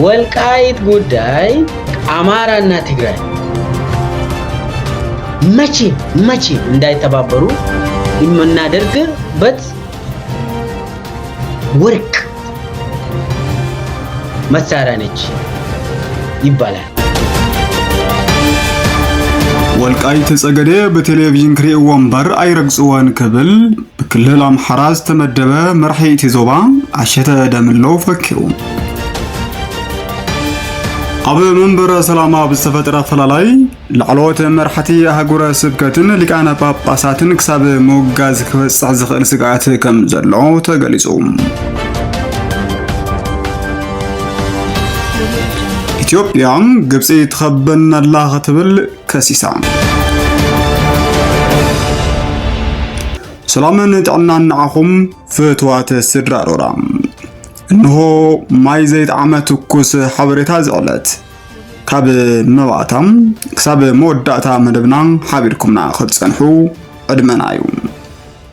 ወልቃይት ጉዳይ ኣማራና ትግራይ መቼ መቼ እንዳይተባበሩ የምናደርግበት ወርቅ መሳሪያ ነች ይባላል። ወልቃይት ጸገዴ ብቴሌቪዥን ክርእይዎ እምበር ኣይረግጽዎን ክብል ብክልል ኣምሓራ ዝተመደበ መራሒ እቲ ዞባ ኣሸተ ደምለው ፈኪሩ። ኣብ መንበረ ሰላማ ኣብ ዝተፈጥረ ኣፈላላይ ላዕለዎት መራሕቲ ኣህጉረ ስብከትን ሊቃነ ጳጳሳትን ክሳብ ምውጋዝ ክበጽሕ ዝኽእል ስግኣት ከም ዘሎ ተገሊጹ። ኢትዮጵያ ግብፂ ትኸበነላ ክትብል ከሲሳ። ሰላምን ጥዕናን ንዓኹም ፍትዋት ስድራ ሮራ እንሆ ማይ ዘይጠዓመ ትኩስ ሓበሬታ እዚ ዕለት ካብ መባእታ ክሳብ መወዳእታ መደብና ሓቢርኩምና ክትጸንሑ ዕድመና እዩ።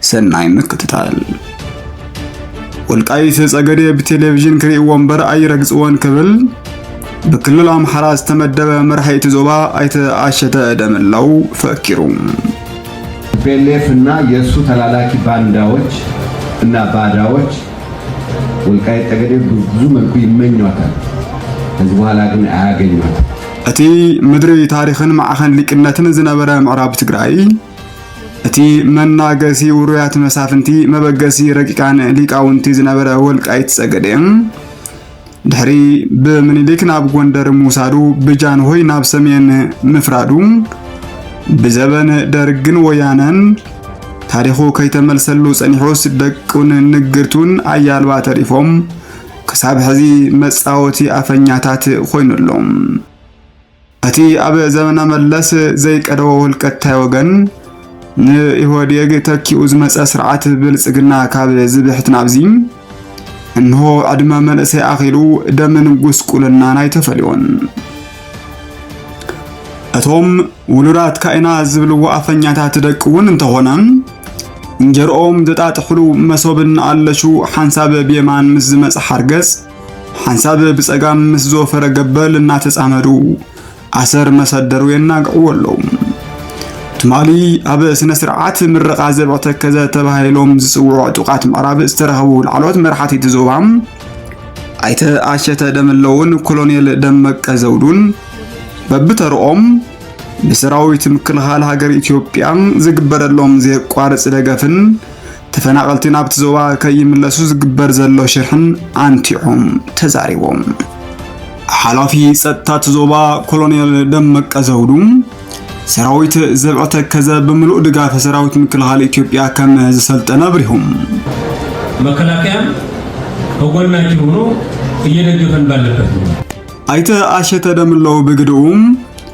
ሰናይ ምክትታል። ወልቃይት ጸገዴ ብቴሌቪዥን ክርእይዎ እምበር ኣይረግጽዎን ክብል ብክልል ኣምሓራ ዝተመደበ መራሒ እቲ ዞባ ኣይተ ኣሸተ ደመላው ፈኪሩ። ቲፒኤልኤፍ እና የእሱ ተላላኪ ባንዳዎች እና ባዳዎች ወልቃይት ጠገዴ ብዙ መልኩ ይመኟታል። ከዚህ በኋላ ግን አያገኟት። እቲ ምድሪ ታሪኽን ማዕኸን ሊቅነትን ዝነበረ ምዕራብ ትግራይ እቲ መናገሲ ውሩያት መሳፍንቲ መበገሲ ረቂቃን ሊቃውንቲ ዝነበረ ወልቃይት ጸገዴ ድሕሪ ብምኒልክ ናብ ጎንደር ምውሳዱ ብጃንሆይ ናብ ሰሜን ምፍራዱ ብዘበን ደርግን ወያነን ታሪኹ ከይተመልሰሉ ጸኒሑስ ደቁን ንግርቱን ኣያልባ ተሪፎም ክሳብ ሕዚ መጻወቲ ኣፈኛታት ኮይኑሎም እቲ ኣብ ዘመነ መለስ ዘይቀደወ ውልቀታይ ወገን ንኢህወዴግ ተኪኡ ዝመፀ ስርዓት ብልፅግና ካብ ዝብሕት ናብዚ እንሆ ዕድመ መንእሰይ ኣኺሉ ደምን ጉስቁልናን ኣይተፈልዮን። እቶም ውሉዳት ካይና ዝብልዎ ኣፈኛታት ደቂ እውን እንተኾነ እንጀርኦም ዘጣጥሕሉ መሶብን ኣለሹ ሓንሳብ ብየማን ምስ ዝመጽ ሓርገጽ ሓንሳብ ብጸጋም ምስ ዝወፈረ ገበል እናተጻመዱ ኣሰር መሰደሩ የናግዕዎ ኣለዉ። ትማሊ ኣብ ስነ ስርዓት ምረቓ ዘብዐ ተከዘ ተባሂሎም ዝጽውዑ ዕጡቓት ምዕራብ ዝተረኸቡ ላዕለዎት መራሕቲ እቲ ዞባ ኣይተ ኣሸተ ደምለውን ኮሎኔል ደመቀ ዘውዱን በብተርኦም ንሰራዊት ምክልኻል ሃገር ኢትዮጵያ ዝግበረሎም ዘየቋርጽ ደገፍን ተፈናቐልቲ ናብቲ ዞባ ከይምለሱ ዝግበር ዘሎ ሽርሕን ኣንቲዖም ተዛሪቦም። ሓላፊ ጸጥታ እቲ ዞባ ኮሎኔል ደመቀ ዘውዱ ሰራዊት ዘብዐ ተከዘ ብምሉእ ድጋፍ ሰራዊት ምክልኻል ኢትዮጵያ ከም ዝሰልጠነ ኣብሪሁም። መከላከያ ከጎናችን ሆኖ እየደገፈን ባለበት ነው። ኣይተ ኣሸተ ደምለው ብግድኡም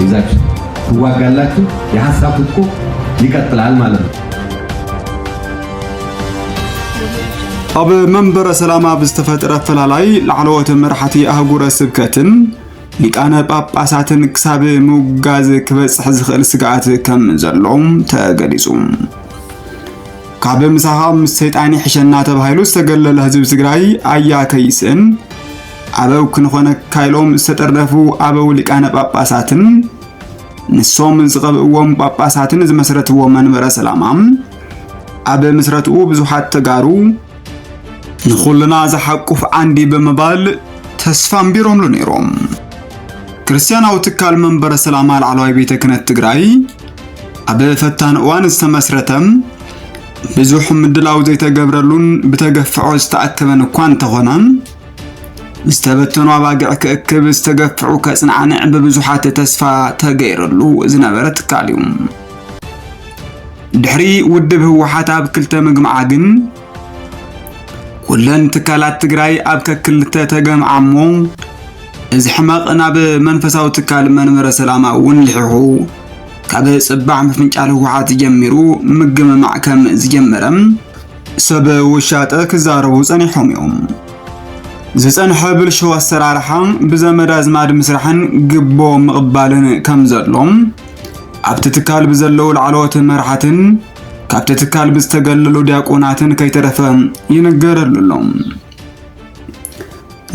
ይዛችሁ ትዋጋላችሁ። የሀሳብ ትጥቁ ይቀጥላል ማለት ነው። ኣብ መንበረ ሰላማ ብዝተፈጥረ ፈላላይ ላዕለዎት መራሕቲ ኣህጉረ ስብከትን ሊቃነ ጳጳሳትን ክሳብ ምውጋዝ ክበጽሕ ዝኽእል ስግኣት ከም ዘሎ ተገሊጹ። ካብ ምሳኻ ምስ ሰይጣን ይሕሸና ተባሂሉ ዝተገለለ ህዝቢ ትግራይ ኣያ ከይስእን ኣበው ክንኾነካ ኢሎም ዝተጠርነፉ ኣበው ሊቃነ ጳጳሳትን ንሶም ዝቐብእዎም ጳጳሳትን ዝመስረትዎ መንበረ ሰላማ ኣብ ምስረትኡ ብዙሓት ተጋሩ ንኹልና ዝሓቁፍ ዓንዲ ብምባል ተስፋ ኣንቢሮምሉ ነይሮም። ክርስቲያናዊ ትካል መንበረ ሰላማ ላዕለዋይ ቤተ ክህነት ትግራይ ኣብ ፈታኒ እዋን ዝተመስረተ ብዙሕ ምድላው ዘይተገብረሉን ብተገፍዖ ዝተኣከበን እኳ እንተኾነ ዝተበተኑ ኣባጊዕ ክእክብ ዝተገፍዑ ከጽናዕንዕ ብብዙሓት ተስፋ ተገይረሉ ዝነበረ ትካል እዩ። ድሕሪ ውድብ ህወሓት ኣብ ክልተ ምግምዓ ግን ኩለን ትካላት ትግራይ ኣብ ከክልተ ተገምዓ እሞ እዚ ሕመቕ ናብ መንፈሳዊ ትካል መንበረ ሰላማ እውን ልሒኹ ካብ ጽባሕ ምፍንጫል ህወሓት ጀሚሩ ምግምማዕ ከም ዝጀመረ ሰብ ውሻጠ ክዛረቡ ጸኒሖም እዮም። ዝጸንሐ ብልሽው ኣሰራርሓ ብዘመድ ኣዝማድ ምስራሕን ግቦ ምቕባልን ከም ዘሎም ኣብቲ ትካል ብዘለዉ ላዕለዎት መራሕትን ካብቲ ትካል ብዝተገለሉ ዲያቆናትን ከይተረፈ ይንገረሉ ኣሎ።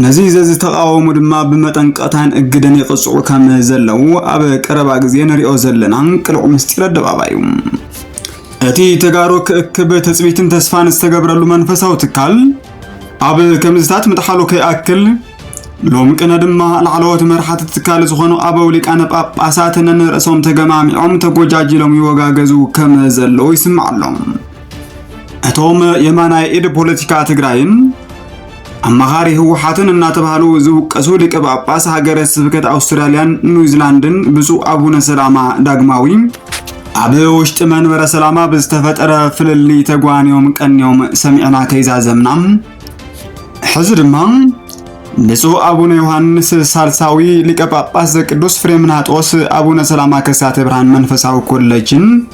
ነዚ ዘዝተቃወሙ ድማ ብመጠንቀታን እግደን ይቕጽዑ ከም ዘለዉ ኣብ ቀረባ ግዜ ንሪኦ ዘለና ቅልዕ ምስጢር ኣደባባይ እዩ። እቲ ተጋሩ ክእክብ ትጽቢትን ተስፋን ዝተገብረሉ መንፈሳዊ ትካል ኣብ ከምዝታት ምጥሓሉ ከይኣክል ሎም ቅነ ድማ ላዕለዎት መርሓቲ ትካል ዝኾኑ ኣበው ሊቃነ ጳጳሳት ነንርእሶም ተገማሚዖም ተጎጃጅሎም ይወጋገዙ ከም ዘለዉ ይስማዕ ኣሎም። እቶም የማናይ ኢድ ፖለቲካ ትግራይን ኣማኻሪ ህወሓትን እናተባህሉ ዝውቀሱ ሊቀ ጳጳስ ሃገረ ስብከት ኣውስትራልያን ኒውዚላንድን ብፁዕ ኣቡነ ሰላማ ዳግማዊ ኣብ ውሽጢ መንበረ ሰላማ ብዝተፈጠረ ፍልልይ ተጓንዮም ቀንዮም ሰሚዕና ከይዛዘምና ሕዚ ድማ ብፁዕ ኣቡነ ዮሐንስ ሳልሳዊ ሊቀ ጳጳስ ዘቅዱስ ፍሬምናጦስ ኣቡነ ሰላማ ከሳተ ብርሃን መንፈሳዊ ኮለጅን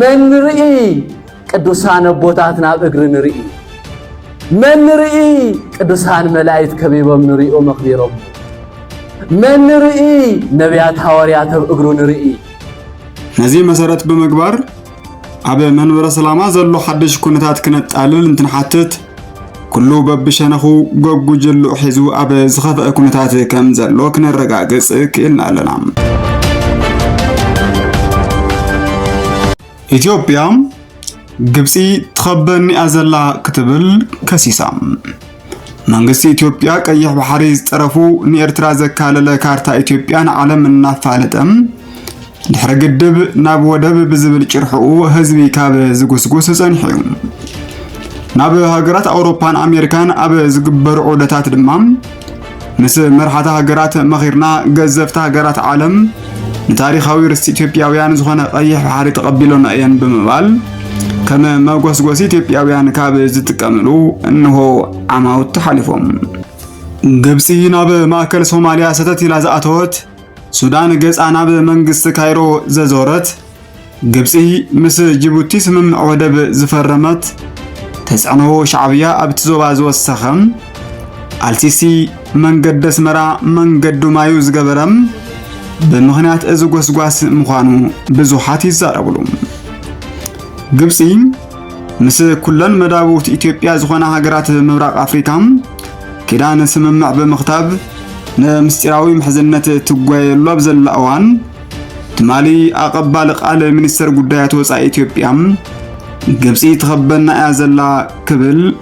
መን ንርኢ ቅዱሳን ኣቦታት ናብ እግሪ ንርኢ መን ንርኢ ቅዱሳን መላእክት ከቢቦም ንሪኦ መኽቢሮም መን ንርኢ ነቢያት ሃዋርያት ኣብ እግሩ ንርኢ ነዚ መሰረት ብምግባር ኣብ መንበረ ሰላማ ዘሎ ሓድሽ ኩነታት ክነጣልል እንትንሓትት ኩሉ በብሸነኹ ጎጉጅሉ ሒዙ ኣብ ዝኸፍአ ኩነታት ከም ዘሎ ክነረጋግጽ ክኢልና ኣለና። ኢትዮጵያ ግብጺ ትኸበኒያ ዘላ ክትብል ከሲሳ። መንግስቲ ኢትዮጵያ ቀይሕ ባሕሪ ዝጠረፉ ንኤርትራ ዘካለለ ካርታ ኢትዮጵያ ንዓለም እናፋለጠ ድሕሪ ግድብ ናብ ወደብ ብዝብል ጭርሕኡ ህዝቢ ካብ ዝጉስጉስ ጸኒሑ እዩ። ናብ ሃገራት ኣውሮፓን ኣሜሪካን ኣብ ዝግበሩ ዑደታት ድማ ምስ መርሓታ ሃገራት መኺርና ገዘፍቲ ሃገራት ዓለም ንታሪኻዊ ርስቲ ኢትዮጵያውያን ዝኾነ ቀይሕ ባሕሪ ተቐቢሎና እየን ብምባል ከም መጎስጎሲ ኢትዮጵያውያን ካብ ዝጥቀምሉ እንሆ ዓማውቲ ሓሊፎም ግብፂ ናብ ማእከል ሶማሊያ ሰተት ኢላ ዝኣተወት ሱዳን ገጻ ናብ መንግስቲ ካይሮ ዘዞረት፣ ግብጺ ምስ ጅቡቲ ስምምዕ ወደብ ዝፈረመት፣ ተጽዕኖ ሻዕብያ ኣብቲ ዞባ ዝወሰኸ፣ ኣልሲሲ መንገዲ ኣስመራ መንገዱ ማዩ ዝገበረ ብምኽንያት እዚ ጎስጓስ ምዃኑ ብዙሓት ይዛረብሉ። ግብጺ ምስ ኩለን መዳብውት ኢትዮጵያ ዝኾና ሃገራት ምብራቕ ኣፍሪካ ኪዳን ስምምዕ ብምኽታብ ንምስጢራዊ ምሕዝነት ትጓየሉ ኣብ ዘላ እዋን ትማሊ ኣቐባሊ ቃል ሚኒስተር ጉዳያት ወፃኢ ኢትዮጵያ ግብፂ ትኸበና እያ ዘላ ክብል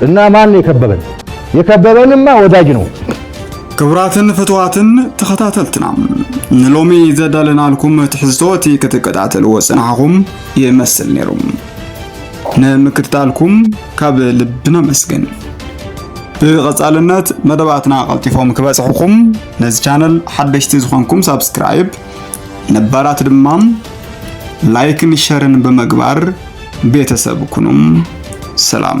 እና ማን የከበበን የከበበንማ ወዳጅ ነው። ክቡራትን ፍትዋትን ተኸታተልትና ንሎሚ ዘዳለናልኩም ትሕዝቶ እቲ ክትከታተልዎ ጽናሕኹም ይመስል ነይሩ። ንምክትታልኩም ካብ ልቢ ነመስግን። ብቐጻልነት መደባትና ቀልጢፎም ክበጽሕኹም ነዚ ቻነል ሓደሽቲ ዝኾንኩም ሳብስክራይብ፣ ነባራት ድማ ላይክን ሸርን ብምግባር ቤተሰብ ኩኑም ሰላም